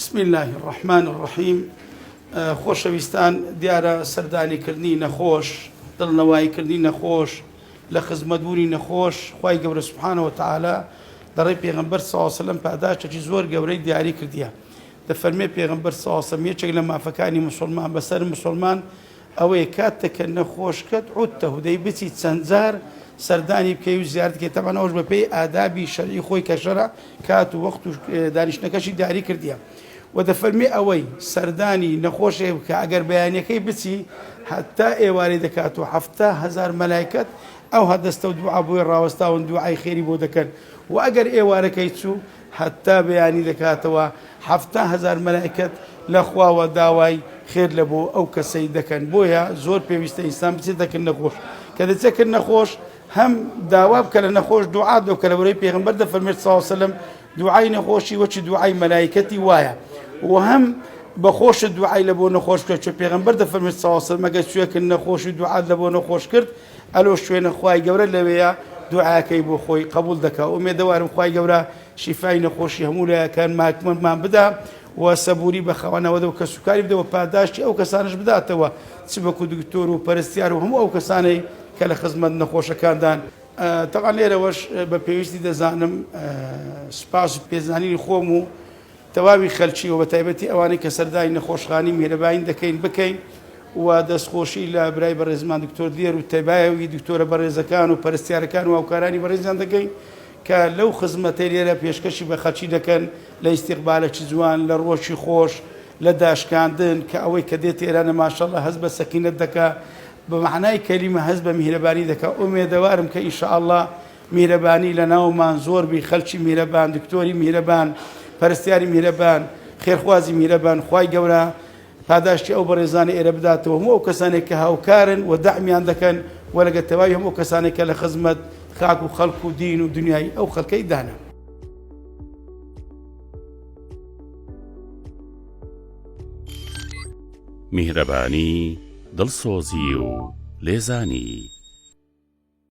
بسم اللە الرحمن الرحیم خۆشەویستان دیارە سەردانی کردنی نەخۆش دڵنەوایی کردنی نەخۆش لە خزمەت بوونی نەخۆش خی گەورە سبحانەوە تعالا دەڕێ پێغمبەر ساسەلم پاداشتێکی زۆر گەورەی دیاری کردیە دەفەرمێ پێغمبەر ساسەم یەکێک لە مافەکانی مسلمان بەسەر مسلمان ئەوەیە کاتتە کە نەخۆشکەت عدته دەی بچیت چەند جار سەردانی بکەی و زیارەتی کەی تەبعەن ئەوەش بە پێی ئادابی شەرعی خۆی کە شەرع کات و وەخت و دانیشتنەکەشی دیاری کردیە و دەفەرمی ئەوەی سەردانی نەخۆشێ بکە ئەگەر بەیانەکەی بچی هەتا ئێوارەی دەکات و هەفتا هەزار مەلایکەت ئەو هەدەستە و دوعا بۆی ڕاوەستاون دوعای خێری بۆ دەکەن و ئەگەر ئێوارەکەی چوو هەتا بەیانی دەکاتەوە حەفتا هەزار مەلائیکەت لە خواوە داوای خێر لە بۆ ئەو کەسەی دەکەن بۆیە زۆر پێویستە ئینسان بچێتە کن نەخۆش کە دەچێت کن نەخۆش هەم داوا بکە لە نەخۆش دوعا دۆکە لە بەرەی پێغمبەر دەفەرمێت ساوسلم دوعای نەخۆشی وەچی دوعای مەلایکەتی وایە و هەم بەخۆشت دوعای لە بۆ نەخۆش بکە چۆ پێغمبەر دەفەرمێت ساوسلمەگە سوێکن نەخۆشی دوعات لە بۆ نەخۆش کرد ئەلۆ شوێنە خوای گەورە لەوێیە دوعاکەی بۆ خۆی قبول دەکا ئومێدەوارم خوای گەورە شیفای نەخۆشی هەموو لایەکان ماکمەمان بدا و سەبوری بەخەوانەوە دەو کەس و کاری بدەوە پاداشتی ئەو کەسانش بداتەوە چ بەکو دکتۆر و پەرستیار و هەموو ئەو کەسانەی کە لە خزمەت نەخۆشەکاندان تەبعا لێرەوەش بە پێویستی دەزانم سوپاس و پێزانینی خۆم و تەواوی خەلکی و بەتایبەتی ئەوانەی کە سەردانی نەخۆشخانەی میهرەباین دەکەین بکەین و دەستخۆشی لە برای بەڕێزمان دکتۆر دلێر و تەبایەوی دکتۆرە بەڕێزەکان و پەرستیارەکان و هاوکارانی بەڕێزیان دەکەین کە لەو خزمەتەی لێرە پێشکەشی بە خەلکی دەکەن لە ئیستیقبالەکی جوان لە ڕووەکی خۆش لە داشکاندن کە ئەوەی کە دێتە ئێرانە ماشەڵا هەست بە سەکینەت دەکا بە مەعنای کەلیمە هەست بە میهرەبانی دەکا ئومێدەوارم کە ان شاء اللە میهرەبانی لەناومان زۆر بی خەلکی میهرەبان دکتۆری میهرەبان پەرستیاری میهرەبان خێرخوازی میهرەبان خوای گەورە پاداشتی ئەو بەڕێزانە ئێرە بداتەوە هەموو ئەو کەسانێک کە هاوکارن و دەعمیان دەکەن و لەگە تەواوی هەموو کەسانێک کە لە خزمەت خاک و خەڵک و دین و دنیای ئەو خەڵکەی دانە میهرەبانی دڵسۆزی و لێزانی